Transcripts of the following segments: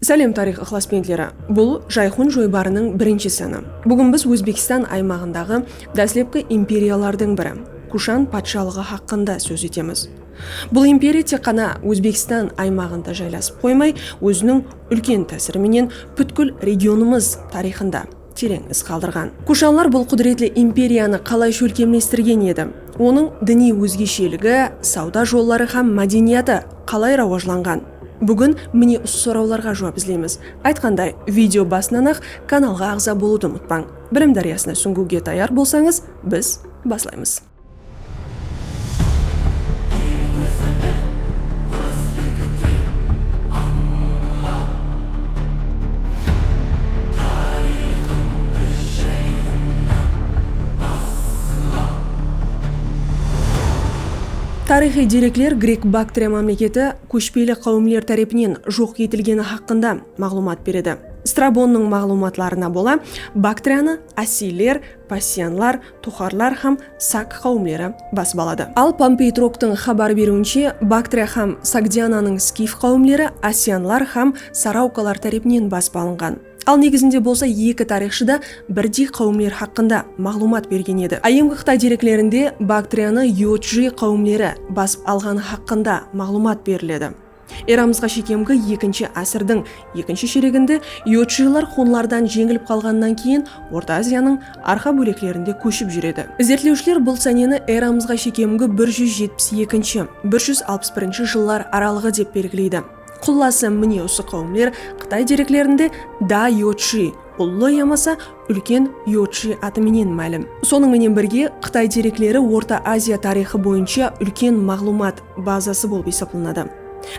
Sálem tariyx ıqlasbentleri! Bul Jayxun joybarınıń birinshi sını. Búgin biz Ózbekstan aymaǵındaǵı dáslepki imperiyalardıń biri, Kushan patshalıǵı haqqında sóz etemiz. Bul imperiya tek ǵana Ózbekstan aymaǵında jaylasıp qoymay, óziniń úlken tásiri menen pútkil regionımız tariyxında, tereń iz qaldırǵan. Kushanlar bul qúdiretli imperiyanı qalay shólkemlestirgen edi? Onıń diniy ózgesheligi, sawda jolları hám mádeniyatı qalay rawajlanǵan? Búgin mine usı sorawlarǵa juwap izleymiz. Aytqanday, video basınan-aq kanalǵa aǵza bolıwdı umıtpań. Bilim dáryasına súńgiwge tayar bolsańız, biz baslaymız. Tariyxıy derekler Grek-Baktriya mámleketi kóshpeli qáwimler tárepinen joq etilgeni haqqında maǵlıwmat beredi. Strabonnıń maǵlıwmatlarına bola, Baktriyanı asiyler, passianlar, Toxarlar hám Sak qáwimleri basıp aladı. Al Pompey Troktıń xabar beriwinshe, Baktriya hám Sogdiananıń skif qáwimleri Asianlar hám Saraukalar tárepinen basıp alınǵan. Al negizinde bolsa eki tariyxshı da birdey qáwimler haqqında maǵlıwmat bergen edi. Áyyemgi Qıtay dereklerinde Baktriyanı Yodjı qáwimleri basıp alǵanı haqqında maǵlıwmat beriledi. Eramızǵa shekemgi ekinshi ásirdiń ekinshi shereginde yodshiylar xunlardan jeńilip qalǵanınan keyin Orta Aziyanıń arqa bóleklerinde kóship júredi. Izertlewshiler bul sáneni eramızǵa shekemgi bir júz jetpis ekinshi, bir júz alpıs birinshi jıllar aralıǵı dep belgileydi. Qullası mine usı qáwimler Qıtay dereklerinde Da Yodshiy, Ullı yamasa Úlken Yorchi atı menen málim. Sonıń menen birge, Qıtay derekleri Orta Aziya tariyxı boyınsha úlken maǵlıwmat bazası bolıp esaplanadı.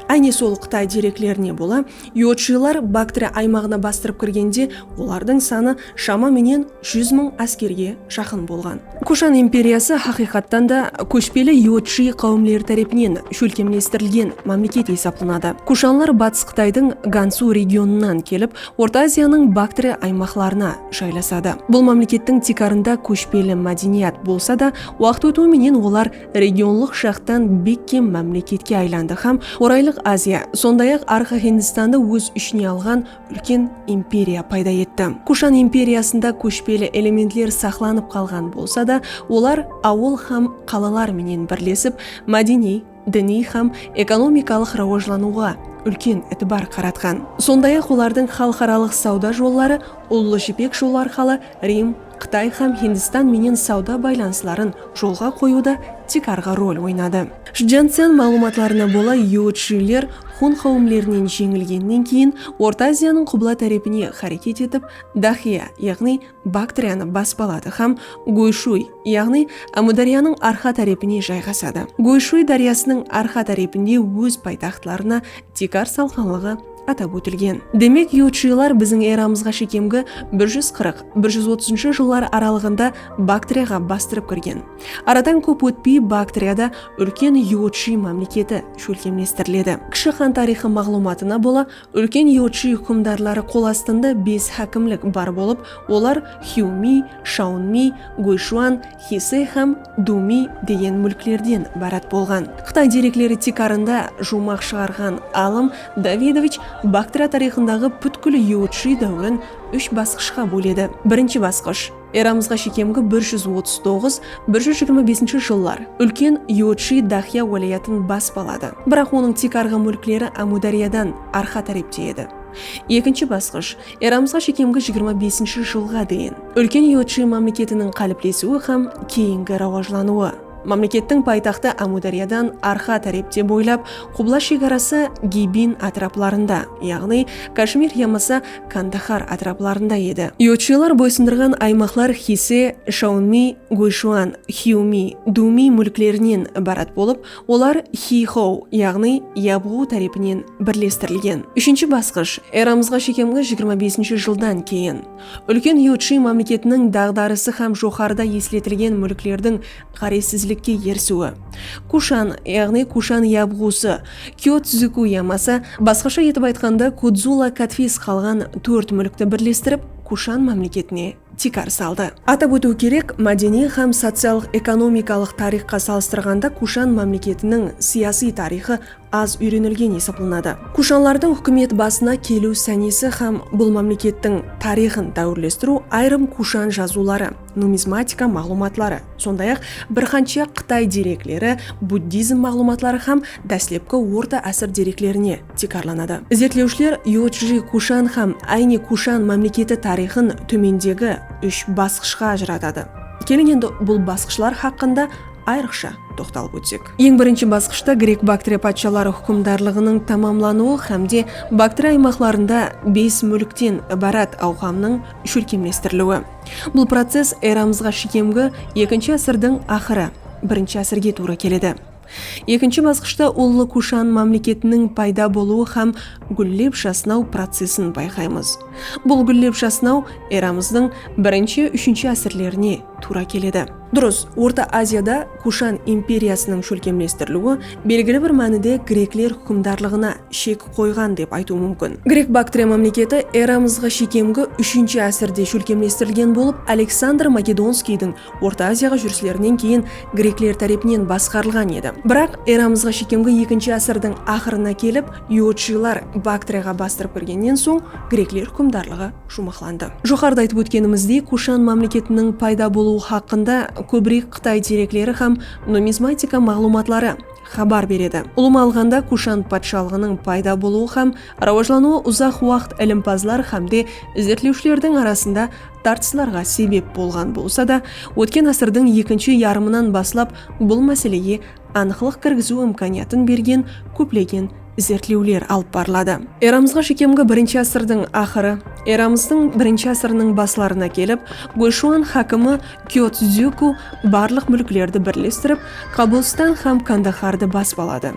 Áyne sol Qıtay dereklerine bola, Yorchilar Baktria aymaǵına bastırıp kirgende olardıń sanı shama menen júz mıń áskerge jaqın bolǵan. Kushan imperiyası haqıyqattan da kóshpeli Yorchi qáwimleri tárepinen shólkemlestirilgen mámleket esaplanadı. Kushanlar Batıs Qıtaydıń Gansu regionınan kelip, Orta Aziyanıń Baktri aymaqlarına jaylasadı. Bul mámlekettiń tiykarında kóshpeli mádeniyat bolsa da, waqıt ótiwi menen olar regionlıq jaqtan bekkem mámleketke aylandı hám Oraylıq Aziya, sonday-aq Arqa Hindistandı óz ishine alǵan úlken imperiya payda etti. Kushan imperiyasında kóshpeli elementler saqlanıp qalǵan bolsa da, olar awıl hám qalalar menen birlesip, mádeniy, diniy hám ekonomikalıq rawajlanıwǵa úlken itibar qaratqan. Sonday-aq, olardıń xalıqaralıq sawda jolları Ullı jipek jolı arqalı Rim, Qıtay hám Hindistan menen sawda baylanısların jolǵa qoyıwda tiykarǵı rol oynadı. Shdzyancian maǵlıwmatlarına bola, yúwitshiyler xun qáwimlerinen jeńilgennen keyin Orta Aziyanıń qubla tárepine háreket etip, Daxiya, yaǵnıy Baktriyanı basıp aladı hám Goyshuy, yaǵnıy Ámudáryanıń arqa tárepine jayǵasadı. Goyshuy dáryasınıń arqa tárepinde óz paytaxtlarına tiykar salqanlıǵı atap ótilgen. Demek, yurtshıylar biziń eramızǵa shekemgi bir júz qırq, bir júz otızınshı jıllar aralıǵında Baktriyaǵa bastırıp kirgen. Aradan kóp ótpey Baktriyada úlken yurtshıy mámleketi shólkemlestiriledi. Kishi xan tariyxı maǵlıwmatına bola Úlken yurtshı húkimdarları qol astında bes hákimlik bar bolıp, olar Xyumi, Shaunmi, Guyshuan, Xise hám Dumi degen múlklerden ibarat bolǵan. Qıtay derekleri tiykarında juwmaq shıǵarǵan alım Davidovich Baktriya tariyxındaǵı pútkil yurtshı dáwirin úsh basqıshqa bóledi. Birinshi basqısh. Eramızǵa shekemgi bir júz otız toǵız, bir júz jigirma besinshi jıllar úlken Yodshi Dahya wálayatın basp aladı. Biraq onıń tiykarǵı múlkleri Ámúdáryadan arqa tárepte edi. Ekinshi basqısh, eramızǵa shekemgi jigirma besinshi jılǵa deyin, úlken Yodshi mámleketiniń qáliplesiwi hám keyingi rawajlanıwı. Mámlekettiń paytaxtı Ámúdáryadan arqa tárepte boylap, qubla shegarası Gibin átiraplarında, yaǵnıy Kashmir yamasa Kandahar átiraplarında edi. Yurtshılar boysındırǵan aymaqlar Xise, Shaunmi, Gúyshuan, Xyumi, Dumi múlklerinen ibarat bolıp, olar Xixou, yaǵnıy Yabǵu tárepinen birlestirilgen. Úshinshi basqısh, eramızǵa shekemgi jigirma besinshi jıldan keyin. Úlken Yudshi mámleketiniń daǵdarısı hám joqarıda esletilgen múlklerdiń ǵárezsizlikke erisiwi. Kushan, yaǵnıy Kushan Yabǵusı, Kyotzıku yamasa, basqasha etip aytqanda, Kudzula Katfis qalǵan tórt múlkti birlestirip, Kushan mámleketine tiykar saldı. Atap ótiw kerek, mádeniy hám sociallıq-ekonomikalıq tariyxqa salıstırǵanda Kushan mámleketiniń siyasiy tariyxı az úyrenilgen esaplanadı. Kushanlardıń húkimet basına keliw sánesi hám bul mámlekettiń tariyxın dáwirlestiriw ayırım kushan jazıwları, numizmatika maǵlıwmatları, sonday-aq, bir qansha qıtay derekleri, buddizm maǵlıwmatları hám dáslepki orta ásir dereklerine tiykarlanadı. Izertlewshiler Yodji kushan hám Áyni kushan mámleketi tariyxın tómendegi úsh basqıshqa ajıratadı. Keliń endi bul basqıshlar haqqında. ayrıqsha toqtalıp ótsek. Eń birinshi basqıshta Grek-Baktriya patshaları húkimdarlıǵınıń tamamlanıwı hámde Baktriya aymaqlarında bes múlkten ibarat awqamnıń shólkemlestiriliwi. Bul process eramızǵa shekemgi ekinshi ásirdiń aqırı, birinshi ásirge tuwrı keledi. Ekinshi basqıshta Ullı Kushan mámleketiniń payda bolıwı hám gúllep jasnaw processin bayqaymız. Bul gúllep jasnaw eramızdıń birinshi-úshinshi ásirlerine tuwra keledi. Durıs, Orta Aziyada Kushan imperiyasınıń shólkemlestiriliwi belgili bir mánide grekler húkimdarlıǵına shek qoyǵan dep aytıw múmkin. Grek-Baktriya mámleketi eramızǵa shekemgi úshinshi ásirde shólkemlestirilgen bolıp, Aleksandr Makedonskiydiń Orta Aziyaǵa júrislerinen keyin grekler tárepinen basqarılǵan edi. Biraq, eramızǵa shekemgi ekinshi ásirdiń aqırına kelip, iotshılar Baktriyaǵa bastırıp kirgennen soń, grekler húkimdarlıǵı. juwmaqlandı. Joqarıda aytıp ótkenimizdey, Kushan mámleketiniń payda bolıwı haqqında kóbirek qıtay derekleri hám numizmatika maǵlıwmatları xabar beredi. Ulıwma alǵanda, Kushan patshalıǵınıń payda bolıwı hám rawajlanıwı uzaq waqıt ilimpazlar hámde izertlewshilerdiń arasında tartıslarǵa sebep bolǵan bolsa da, ótken ásirdiń ekinshi yarımınan baslap bul máselege anıqlıq kirgiziw imkaniyatın bergen kóplegen izertlewler alıp barıladı. Eramızǵa shekemgi birinshi ásirdiń aqırı, eramızdıń birinshi ásiriniń baslarına kelip, Gúyshúan hákimi Kyotzúku barlıq múlklerdi birlestirip, Qabulstan hám Kandahardı basıp aladı.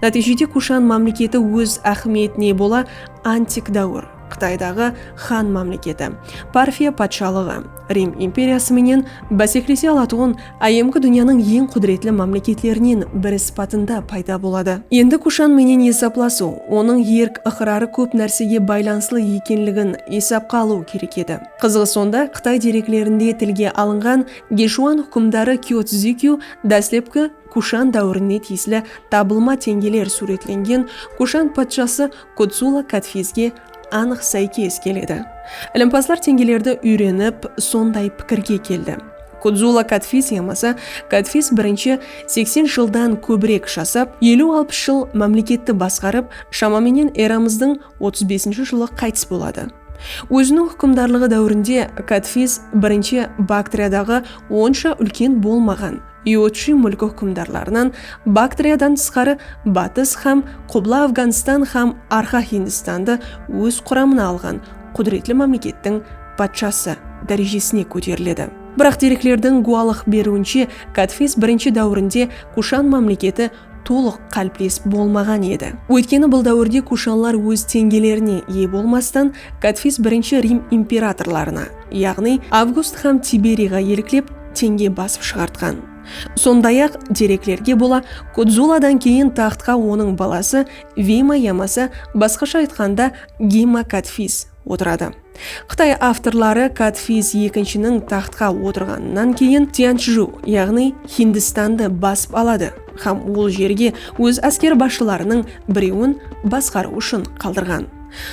Nátiyjede Kushan mámleketi óz áhmiyetine bola antik dáwir. Qıtaydaǵı Han mámleketi, Parfiya patshalıǵı, Rim imperiyası menen báseklese alatuǵın áyyemgi dúnyanıń eń qúdiretli mámleketlerinen biri sıpatında payda boladı. Endi Kushan menen esaplasıw, onıń erk-ıqrarı kóp nársege baylanıslı ekenligin esapqa alıw kerek edi. Qızıǵı sonda, Qıtay dereklerinde tilge alınǵan Geshuan húkimdarı Kyo Czikiu dáslepki, Kushan dáwirine tiyisli tabılma teńgeler súwretlengen Kushan patshası Kutsula Kadfizge anıq sáykes keledi. Ilimpazlar teńgelerdi úyrenip, sonday pikirge keldi, Kutsula Kadfiz yamasa Kadfiz birinshi seksen jıldan kóbirek jasap, eliw-alpıs jıl mámleketti basqarıp, shama menen eramızdıń otız besinshi jılı qaytıs boladı. Óziniń húkimdarlıǵı dáwirinde Kadfiz birinshi Baktriadaǵı onsha úlken bolmaǵan, Iotshi múlki húkimdarlarınan Baktriyadan tısqarı Batıs hám Qubla Afǵanstan hám Arqa Hindistandı óz quramına alǵan qúdiretli mámlekettiń patshası dárejesine kóteriledi. Biraq dereklerdiń gúwalıq beriwinshe Gátvez birinshi dáwirinde Kushan mámleketi tolıq qáliples bolmaǵan edi. Óytkeni bul dáwirde kushanlar óz teńgelerine iye bolmastan, Kadfis birinshi Rim imperatorlarına, yaǵnıy Avgust hám Tiberiyǵa eliklep, teńge basıp shıǵartqan. Sonday-aq, dereklerge bola, Kudzuladan keyin taxtqa onıń balası Veyma yamasa, basqasha aytqanda, Geyma Kadfis, otıradı. Qıtay avtorları Kadfiz ekinshiniń taxtqa otırǵanınan keyin Tyanshju, yaǵnıy Hindistandı basıp aladı hám ol jerge óz ásker basshılarınıń birewin basqarıw ushın qaldırǵan.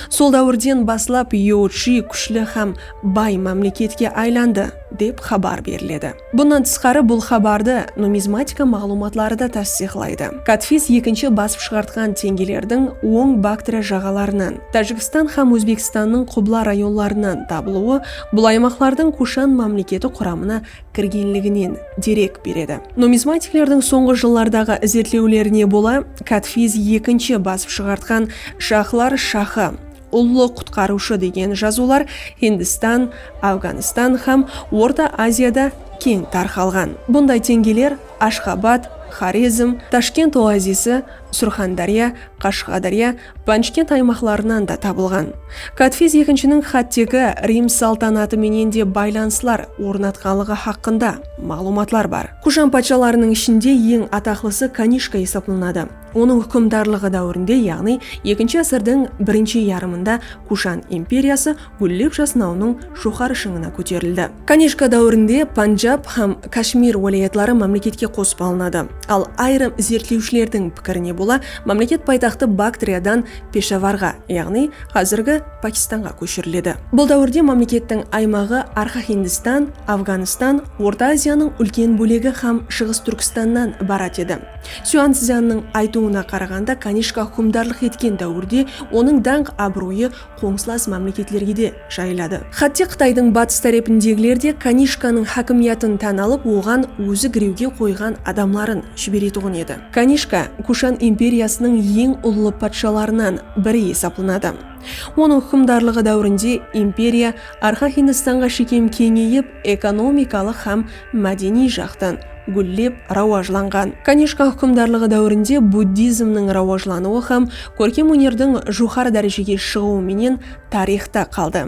Sol dáwirden baslap Yauchi kúshli hám bay mámleketke aylandı, dep xabar beriledi. Bunnan tısqarı bul xabardı numizmatika maǵlıwmatları da tastıyıqlaydı. Katfiz ekinshi basıp shıǵartqan teńgelerdiń oń Baktriya jaǵalarınan, Tájikstan hám Ózbekstannıń Qubla rayonlarınan tabılıwı bul aymaqlardıń Kushan mámleketi quramına kirgenliginen derek beredi. Numizmatiklerdiń sońǵı jıllardaǵı izertlewlerine bola, Katfiz ekinshi basıp shıǵartqan shahlar shahı, Ullı qutqarıwshı degen jazıwlar Hindistan, Afganistan hám Orta Aziyada keń tarqalǵan. Bunday teńgeler Ashxabad, Xorezm, Tashkent oazisi, Surxandárya, Qashǵadarya, Panjkent aymaqlarınan da tabılǵan. Kadfiz ekinshiniń xáttegi Rim saltanatı menen de baylanıslar ornatqanlıǵı haqqında maǵlıwmatlar bar. Kushan patshalarınıń ishinde eń ataqlısı Kanishka esaplanadı. Onıń húkimdarlıǵı dáwirinde, yaǵnıy ekinshi ásirdiń birinshi yarımında Kushan imperiyası gúllep jasnawınıń joqarı shıńına kóterildi. Kanishka dáwirinde Panjab hám Kashmir wálayatları mámleketke qosıp alınadı. Al ayırım izertlewshilerdiń pikirine bola, mámleket paytaxtı Baktriyadan Peshavarǵa, yaǵnıy házirgi Pakistanǵa kóshiriledi. Bul dáwirde mámlekettiń aymaǵı Arqa Hindistan, Afganistan, Orta Aziyanıń úlken bólegi hám Shıǵıs Túrkistannan ibarat edi. Syanszyanniń aytıwına qaraǵanda, Kanishka húkimdarlıq etken dáwirde onıń dańq-abıroyı qońsılas mámleketlerge de jayıladı. Xátte Qıtaydıń batıs tárepindegiler de Kanishkanıń hákimiyatın tán alıp, oǵan ózi girewge qoyǵan adamların jiberetuǵın edi. Kanishka Kushan imperiyasınıń eń ullı patshalarınan biri esaplanadı. Onıń húkimdarlıǵı dáwirinde imperiya arqa Hindistanǵa shekem keńeyip, ekonomikalıq hám mádeniy jaqtan gúllep rawajlanǵan. Kanishka húkimdarlıǵı dáwirinde buddizmniń rawajlanıwı hám kórkem ónerdiń joqarı dárejege shıǵıwı menen tariyxta qaldı.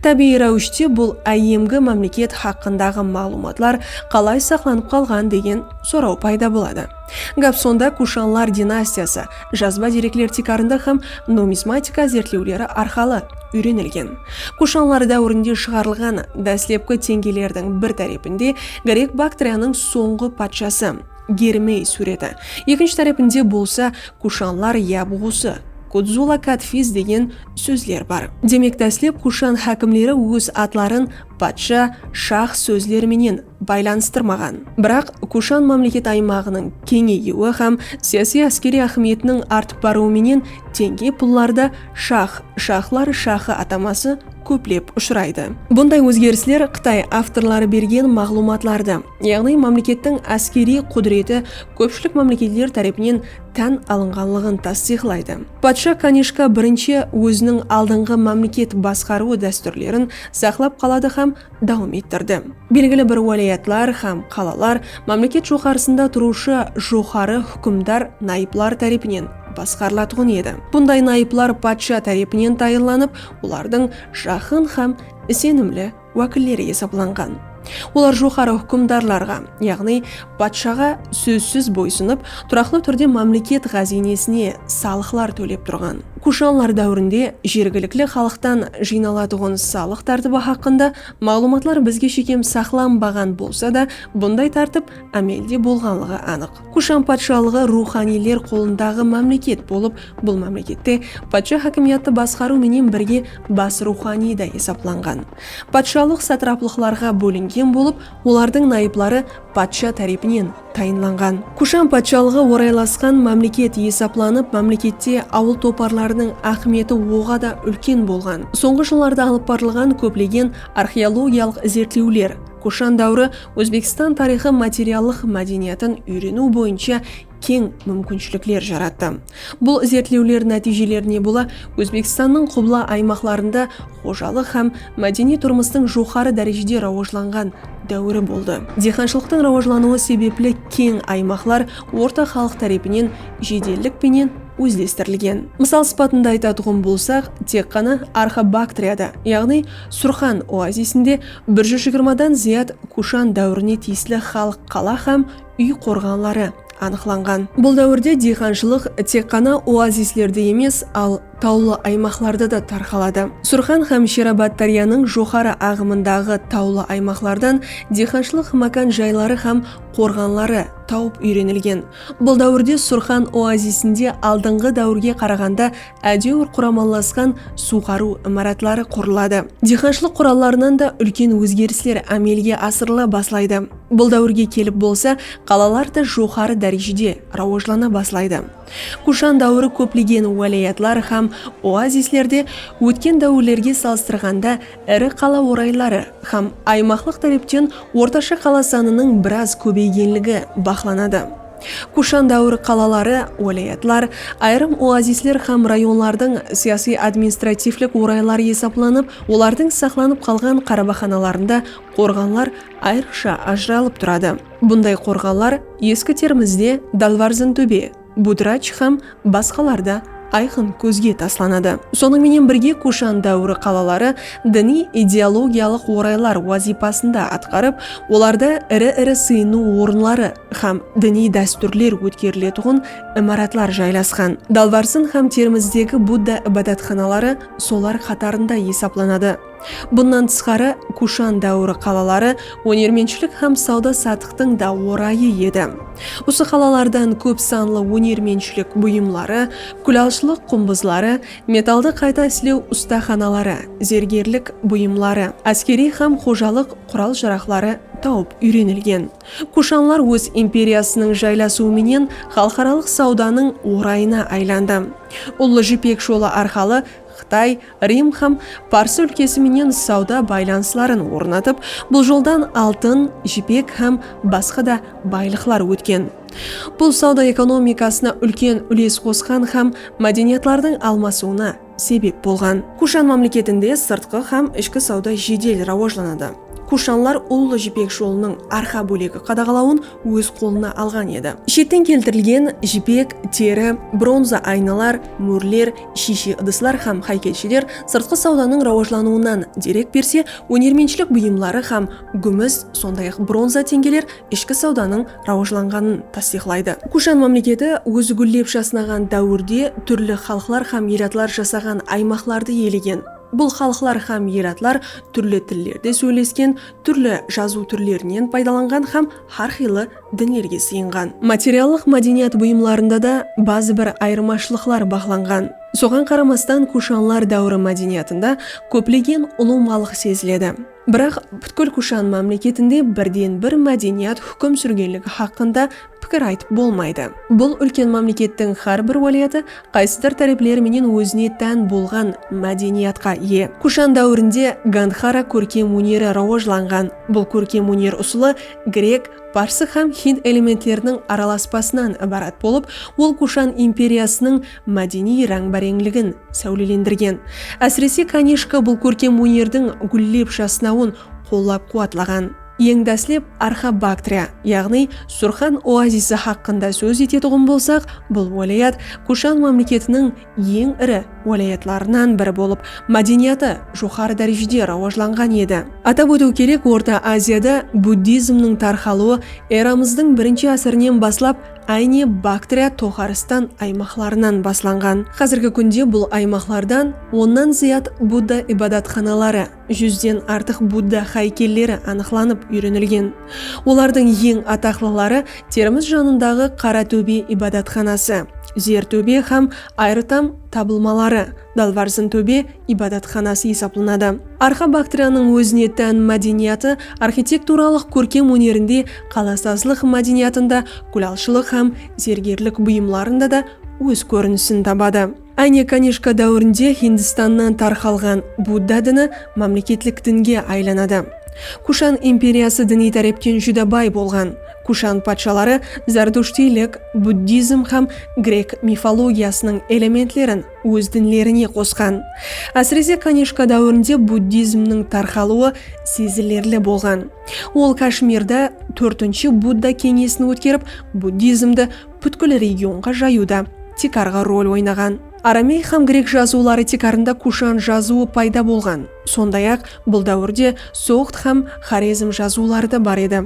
Tábiyiy ráwishte bul áyyemgi mámleket haqqındaǵı maǵlıwmatlar qalay saqlanıp qalǵan degen soraw payda boladı. Gáp sonda Kushanlar dinastiyası jazba derekler tiykarında hám numizmatika izertlewleri arqalı úyrenilgen. Kushanlar dáwirinde shıǵarılǵan dáslepki teńgelerdiń bir tárepinde Grek Baktriyanıń sońǵı patshası Germey súwreti, ekinshi tárepinde bolsa Kushanlar yabǵusı Kudzula Kadfiz degen sózler bar. Demek dáslep Kushan hákimleri óz atların patsha, shah sózleri menen baylanıstırmaǵan. Biraq, Kushan mámleket aymaǵınıń keńeyiwi hám siyasiy-áskeriy áhmiyetiniń artıp barıwı menen tenge pullarda shax, shaxlar shaxı ataması kóplep ushıraydı. Bunday ózgerisler qıtay avtorları bergen maǵlıwmatlardı, yaǵnıy mámlekettiń áskeriy qúdireti kópshilik mámleketler tárepinen tán alınǵanlıǵın tastıyıqlaydı. Patsha Kanishka birinshi óziniń aldınǵı mámleket basqarıwı dástúrlerin saqlap qaladı hám dawam ettirdi. Belgili bir wálayatlar hám qalalar mámleket joqarısında turıwshı joqarı húkimdar nayıplar tárepinen basqarılatuǵın edi. Bunday nayıplar patsha tárepinen tayınlanıp, olardıń jaqın hám isenimli wákilleri esaplanǵan. Olar joqarı húkimdarlarǵa, yaǵnıy Patshaǵa sózsiz boysınıp, turaqlı túrde mámleket ǵáziynesine salıqlar tólep turǵan. Kushanlar dáwirinde jergilikli xalıqtan jıynalatuǵın salıq tártibi haqqında maǵlıwmatlar bizge shekem saqlanbaǵan bolsa da, bunday tártip ámelde bolǵanlıǵı anıq. Kushan patshalıǵı ruwxaniyler qolındaǵı mámleket bolıp, bul mámlekette patsha hákimiyatı basqarıw menen birge bas ruwxaniy da esaplanǵan. Patshalıq satraplıqlarǵa bólingen bolıp, Olardıń nayıpları patsha tárepinen tayınlanǵan. Kushan patshalıǵı oraylasqan mámleket esaplanıp, mámlekette awıl toparlarınıń áhmiyeti oǵa da úlken bolǵan. Sońǵı jıllarda alıp barılǵan kóplegen arxeologiyalıq izertlewler Kushan dáwiri Ózbekstan tariyxı materiallıq mádeniyatın úyreniw boyınsha keń múmkinshilikler jarattı. Bul izertlewler nátiyjelerine bola Ózbekstannıń qubla aymaqlarında xojalıq hám mádeniy turmıstıń joqarı dárejede rawajlanǵan dáwiri boldı. Diyqanshılıqtıń rawajlanıwı sebepli keń aymaqlar orta xalıq tárepinen jedellik penen ózlestirilgen. Mısal sıpatında aytatuǵın bolsaq, tek ǵana Arxa-Baktriyada, yaǵnıy Surxan oazisinde bir júz jigirma dan zıyat kushan dáwirine tiyisli xalıq qala hám úy qorǵanları anıqlanǵan. Bul dáwirde diyqanshılıq tek ǵana oazislerde emes, al tawlı aymaqlarda da tarqaladı. Surxan hám Sherabad dáryanıń joqarı aǵımındaǵı tawlı aymaqlardan diyqanshılıq mákan jayları hám qorǵanları tawıp úyrenilgen. Bul dáwirde Surxan oazisinde aldınǵı dáwirge qaraǵanda Ádewir quramallasqan suwǵarıw imaratları qurıladı. Diyqanshılıq qurallarınan da úlken ózgerisler ámelge asırıla baslaydı. Bul dáwirge kelip bolsa qalalar da joqarı dárejede rawajlana baslaydı. Kushan dáwiri kóplegen wálayatlar hám oazislerde ótken dáwirlerge salıstırǵanda iri qala orayları hám aymaqlıq tárepten ortasha qala sanınıń biraz kóbeygenligi baqlanadı. Kushan dáwiri qalaları, wálayatlar, ayırım oazisler hám rayonlardıń siyasiy-administrativlik orayları esaplanıp, olardıń saqlanıp qalǵan qarabaxanalarında qorǵanlar ayrıqsha ajıralıp turadı. Bunday qorǵanlar Eski Termizde Dalvarzintóbe, Budrach hám basqalar da ayqın kózge taslanadı. Sonıń menen birge Kushan dáwiri qalaları diniy-ideologiyalıq oraylar wazıypasın da atqarıp, olarda iri-iri sıyınıw orınları hám diniy dástúrler ótkeriletuǵın imaratlar jaylasqan. Dalbarsın hám Termizdegi Budda ibadatxanaları solar qatarında esaplanadı. Bunnan tısqarı, Kushan dáwiri qalaları ónermentshilik hám sawda-satıqtıń da orayı edi. Usı qalalardan kóp sanlı ónermentshilik buyımları, kúlalshılıq qumbızları, metaldı qayta islew ustaxanaları, zergerlik buyımları, áskeriy hám xojalıq qural-jaraqları tawıp úyrenilgen. Kushanlar óz imperiyasınıń jaylasıwı menen xalıqaralıq sawdanıń orayına aylandı. Ullı Jipek jolı arqalı Qıtay, Rim hám Pars úlkesi menen sawda baylanısların ornatıp, bul joldan altın, jipek hám basqa da baylıqlar ótken. Bul sawda ekonomikasına úlken úles qosqan hám mádeniyatlardıń almasıwına sebep bolǵan. Kushan mámleketinde sırtqı hám ishki sawda jedel rawajlanadı. Kushanlar Ullı jipek jolınıń arqa bólegi qadaǵalawın óz qolına alǵan edi. Shetten keltirilgen jipek, teri, bronza aynalar, mórler, Shiyshe ıdıslar hám háykelsheler sırtqı sawdanıń rawajlanıwınan derek berse, ónermenshilik buyımları hám gúmis, sonday-aq, bronza teńgeler ishki sawdanıń rawajlanǵanın tastıyıqlaydı. Kushan mámleketi ózi gúllep jasnaǵan dáwirde túrli xalıqlar hám elatlar jasaǵan aymaqlardı iyelegen. Bul xalıqlar hám elatlar túrli tillerde sóylesken, túrli jazıw túrlerinen paydalanǵan hám hár qıylı dinlerge sıyınǵan. Materiallıq mádeniyat buyımlarında da bazı bir ayırmashılıqlar baqlanǵan. Soǵan qaramastan kushanlar dáwiri mádeniyatında kóplegen ulıwmalıq seziledi. Biraq pútkil kushan mámleketinde birden bir mádeniyat húkim súrgenligi haqqında pikir aytıp bolmaydı. Bul úlken mámlekettiń hár bir wálayatı qaysıdır tárepleri menen ózine tán bolǵan mádeniyatqa iye. Kushan dáwirinde Gandxara kórkem óneri rawajlanǵan. Bul kórkem óner usılı grek, parsı hám hind elementleriniń aralaspasınan ibarat bolıp, ol Kushan imperiyasınıń mádeniy ráńbáreńligin sáwlelendirgen. Ásirese, Kanishka bul kórkem ónerdiń gúllep jasnawın qollap-quwatlaǵan. Eń dáslep Arxabaktriya, yaǵnıy Surxan oazisi haqqında sóz etetuǵın bolsaq, bul wálayat Kushan mámleketiniń eń iri wálayatlarınan biri bolıp, mádeniyatı joqarı dárejede rawajlanǵan edi. Atap ótiw kerek, Orta Aziyada buddizmniń tarqalıwı eramızdıń birinshi ásirinen baslap áyne Baktriya toǵarıstan aymaqlarınan baslanǵan. Házirgi kúnde bul aymaqlardan onnan zıyat Budda ibadatxanaları, Júzden artıq Budda háykelleri anıqlanıp úyrenilgen. Olardıń eń ataqlıları Termiz janındaǵı Qara tóbe ibadatxanası, Zer tóbe hám Ayritam tabılmaları, Dalvarsin tóbe ibadatxanası esaplanadı. Arqa Baktriyanıń ózine tán mádeniyatı arxitekturalıq kórkem ónerinde, qalasazlıq mádeniyatında, gúlalshılıq hám zergerlik buyımlarında da óz kórinisin tabadı. Áne Kanishka dáwirinde Hindistannan tarqalǵan Budda dini mámleketlik dinge aylanadı. Kushan imperiyası diniy tárepten júdá bay bolǵan. Kushan patshaları zartushtiylik, buddizm hám grek mifologiyasınıń elementlerin óz dinlerine qosqan. Ásirese Kanishka dáwirinde buddizmniń tarqalıwı sezilerli bolǵan. Ol Kashmirda tórtinshi Budda keńesin ótkerip, buddizmdi pútkil regionǵa jayıwda tiykarǵı rol oynaǵan. Aramey hám grek jazıwları tiykarında kushan jazıwı payda bolǵan, sonday-aq, bul dáwirde soǵd hám xorezm jazıwları da bar edi.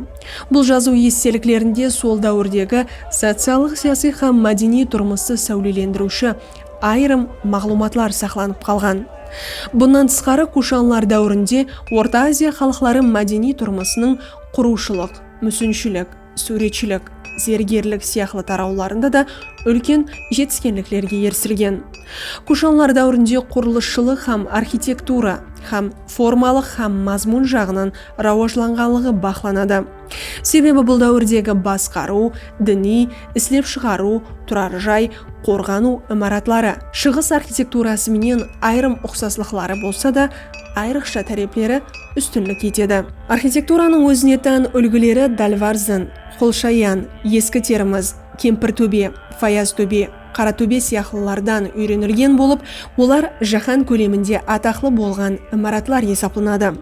Bul jazıw esteliklerinde sol dáwirdegi sociallıq-siyasiy hám mádeniy turmıstı sáwlelendiriwshi ayırım maǵlıwmatlar saqlanıp qalǵan. Bunnan tısqarı, kushanlar dáwirinde Orta Aziya xalıqları mádeniy turmısınıń qurıwshılıq, músinshilik, súwretshilik, zergerlik sıyaqlı tarawlarında da úlken jetiskenliklerge erisilgen. Kushanlar dáwirinde qurılısshılıq hám arxitektura hám formalıq hám mazmun jaǵınan rawajlanǵanlıǵı baqlanadı. Sebebi bul dáwirdegi basqarıw, diniy, islep shıǵarıw, turar jay, qorǵanıw imaratları Shıǵıs arxitekturası menen ayırım uqsaslıqları bolsa da, ayrıqsha tárepleri ústinlik etedi. Arxitekturanıń ózine tán úlgileri Dálvarzin, Qolshayan, Eski Termiz, Kempir tóbe, Fayaz tóbe, Qara tóbe sıyaqlılardan úyrenilgen bolıp, olar jáhán kóleminde ataqlı bolǵan imaratlar esaplanadı.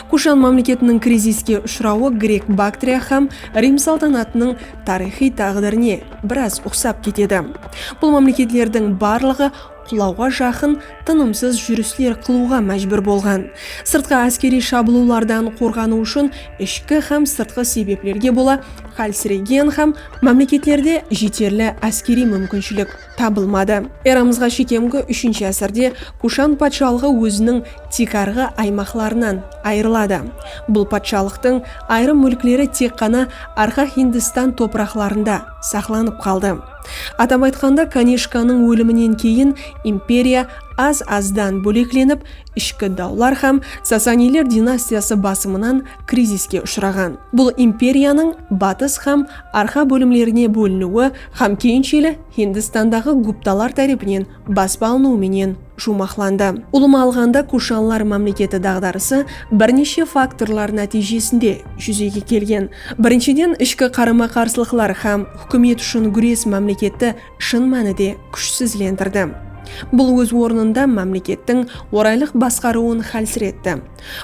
Kushan mámleketiniń kriziske ushırawı Grek Baktriya hám Rim saltanatınıń tariyxıy táǵdirine biraz uqsap ketedi. Bul mámleketlerdiń barlıǵı qulawǵa jaqın tınımsız júrisler qılıwǵa májbúr bolǵan. Sırtqı áskeriy shabılıwlardan qorǵanıw ushın ishki hám sırtqı sebeplerge bola hálsiregen hám mámleketlerde jeterli áskeriy múmkinshilik tabılmadı. Eramızǵa shekemgi úshinshi ásirde Kushan patshalıǵı óziniń tiykarǵı aymaqlarınan ayırıladı. Bul patshalıqtıń ayırım múlkleri tek ǵana arqa Hindistan topıraqlarında saqlanıp qaldı. Atap aytqanda, Kanishkanıń óliminen keyin imperiya az-azdan bóleklenip, ishki dawlar hám Sasaniyler dinastiyası basımınan kriziske ushıraǵan. Bul imperiyanıń batıs hám arqa bólimlerine bóliniwi hám keyinsheli Hindistandaǵı Guptalar tárepinen baspa alınıwı menen juwmaqlandı. Ulıwma alǵanda, kushanlar mámleketi daǵdarısı bir neshe faktorlar nátiyjesinde júzege kelgen. Birinshiden, ishki qarama-qarsılıqlar hám húkimet ushın gúres mámleketti shın mánide kúshsizlendirdi. Bul óz ornında mámlekettiń oraylıq basqarıwın hálsiretti.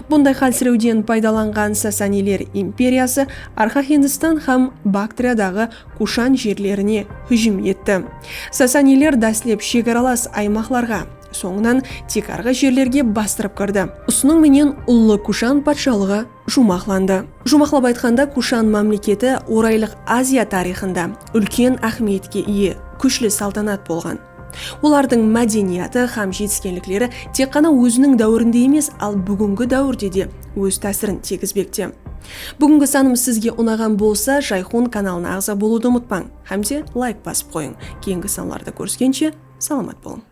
Bunday hálsirewden paydalanǵan Sasaniyler imperiyası Arxa Hindistan hám Baktriyadaǵı Kushan jerlerine hújim etti. Sasaniler dáslep shegaralas aymaqlarǵa, sońınan tiykarǵı jerlerge bastırıp kirdi. Usınıń menen Ullı Kushan patshalıǵı juwmaqlandı. Juwmaqlap aytqanda, Kushan mámleketi Oraylıq Aziya tariyxında úlken áhmiyetke iye kúshli saltanat bolǵan. Olardıń mádeniyatı hám jetiskenlikleri tek ǵana óziniń dáwirinde emes, al búgingi dáwirde de óz tásirin tiygizbekte. Búgingi sanımız sizge unaǵan bolsa, Jayxun kanalına aǵza bolıwdı umıtpań hám de layk basıp qoyıń. Keyingi sanlarda kóriskenshe, salamat bolıń!